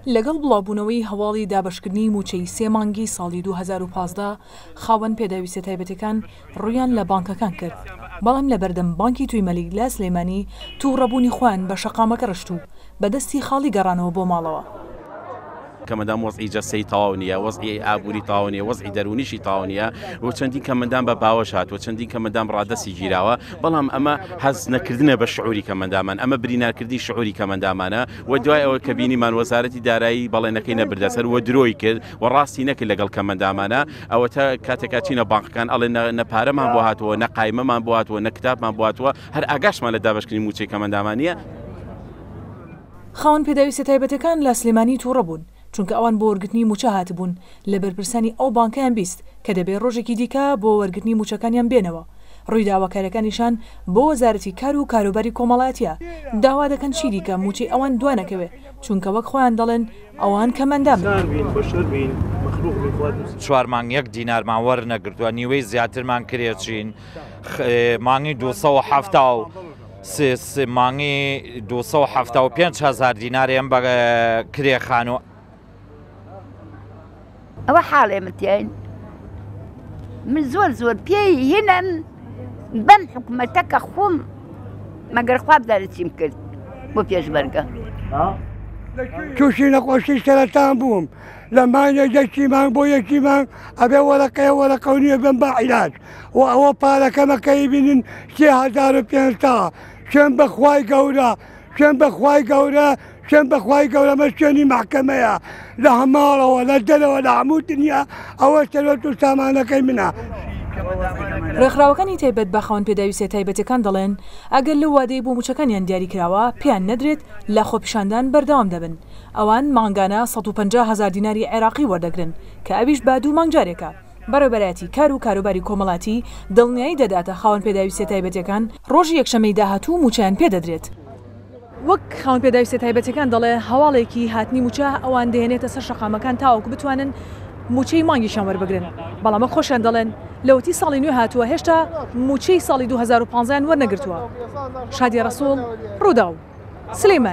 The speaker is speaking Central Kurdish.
لەگەڵ بڵاوبوونەوەی هەواڵی دابەشکردنی مووچەی سێ مانگی ساڵی دوو هەزار و پازدە، خاوەن پێداویستە تایبەتەکان ڕوویان لە بانکەکان کرد، بەڵام لەبەردەم بانکی تووی مەلیک لە سلێمانی تووڕەبوونی خۆیان بە شەقامەکە ڕشت و بە دەستی خاڵی گەڕانەوە بۆ ماڵەوە. کەمەندان وەزعی جەستەیی تەواو نییە، وەزعی ئابووری تەواو نییە، وەزعی دەروونیشی تەواو نییە و چەندین کەمەندان بە باوەش هاتووە، چەندین کەمەندان ڕادەستی گیراوە، بەڵام ئەمە هەست نەکردنە بە شعووری کەمەندانمان، ئەمە برینارکردنی شعووری کەمەندانمانە. و دوای ئەوە کە بینیمان وەزارەتی دارایی بەڵێنەکەی نەبردە سەر و درۆی کرد و ڕاستی نەکرد لەگەڵ کەمەندامانە ئەوەتە کاتێکا چینە بانقەکان ئەڵێ نەپارەمان بۆ هاتووە نە قایمەمان بۆ هاتووە نە کتابمان باتوە هەر ئاگاشمان لە دابشکردنی موچەی کەمەندامانە خاوەن پێداویستە تایبەتەکان لە سلێمانی تووڕە بوون. چونکە ئەوان بۆ وەرگرتنی مووچە هاتبوون، لە بەرپرسانی ئەو بانکەیان بیست کە دەبێ ڕۆژێکی دیکە بۆ وەرگرتنی مووچەکانیان بێنەوە، ڕووی داواکاریەکانیشان بۆ وەزارەتی کار و کاروباری کۆمەڵایەتیە، داوا دەکەن چیدیکە مووچەی ئەوان دوانەکەوێ، چونکە وەک خۆیان دەڵێن ئەوان کە مەندابن. چوار مانگ یەک دینارمان وەرنەگرتووە، نیوەی زیاترمان کرێچین، مانگی دوو سەد و حەفتا و. سێ سێ مانگی دوو سەد و حەفتا و پێنج هەزار دیناریان بە کرێ خانوو ئەوە حاڵێ من تیاین من زۆر زۆر پێی هینم بەم حکوومەتە کە خۆم مەگەر خواب دارچیم کرد بۆ پێشبەرگە تووشی نەخۆشی سەرەتان بووم لە مانگێک یەکی مانگ بۆ یەکی مانگ ئەبێ وەرەقەیە وەرەقەونیە بم بە عیلاج و ئەوە پارەکەمە کەی بینن سێ هەزار و پێنج تا شوێن بەخوای گەورە شوێن بەخوای گەورە شوێن بەخوای گەورەمە شوێنی محکەمەیە لە هەماڵەوە لە دەرەوە لە هەموو دنیا ئەوە سەرۆت و سامانەکەی منە. ڕێکخراوەکانی تایبەت بە خاوەن پێداویستیە تایبەتەکان دەڵێن، ئەگەر لەو وادەی بۆ مووچەکانیان دیاری کراوە پێیان نەدرێت لە خۆپیشاندان بەردەوام دەبن، ئەوان مانگانە سەد و پەنجا هەزار دیناری عێراقی وەردەگرن کە ئەویش بە دوو مانگ جارێکە. بەڕێوبەرایەتی کار و کاروباری کۆمەڵاتی دڵنیایی دەداتە خاوەن پێداویستیە تایبەتیەکان، ڕۆژی یەکشەممەی داهاتوو مووچەیان پێدەدرێت. وەک خاوەن پێداویستیە تایبەتیەکان دەڵێت، هەواڵێکی هاتنی مووچە ئەوان دەهێنێتە سەر شەقامەکان تاوەکو بتوانن مووچەی مانگیشیان وەربگرن، بەڵام وەک خۆشیان دەڵێن لەوەتی ساڵی نوێ هاتووە هێشتا مووچەی ساڵی دوو هەزار و پازدە یان وەرنەگرتووە. شادیە ڕەسوڵ، ڕووداو، سلێمانی.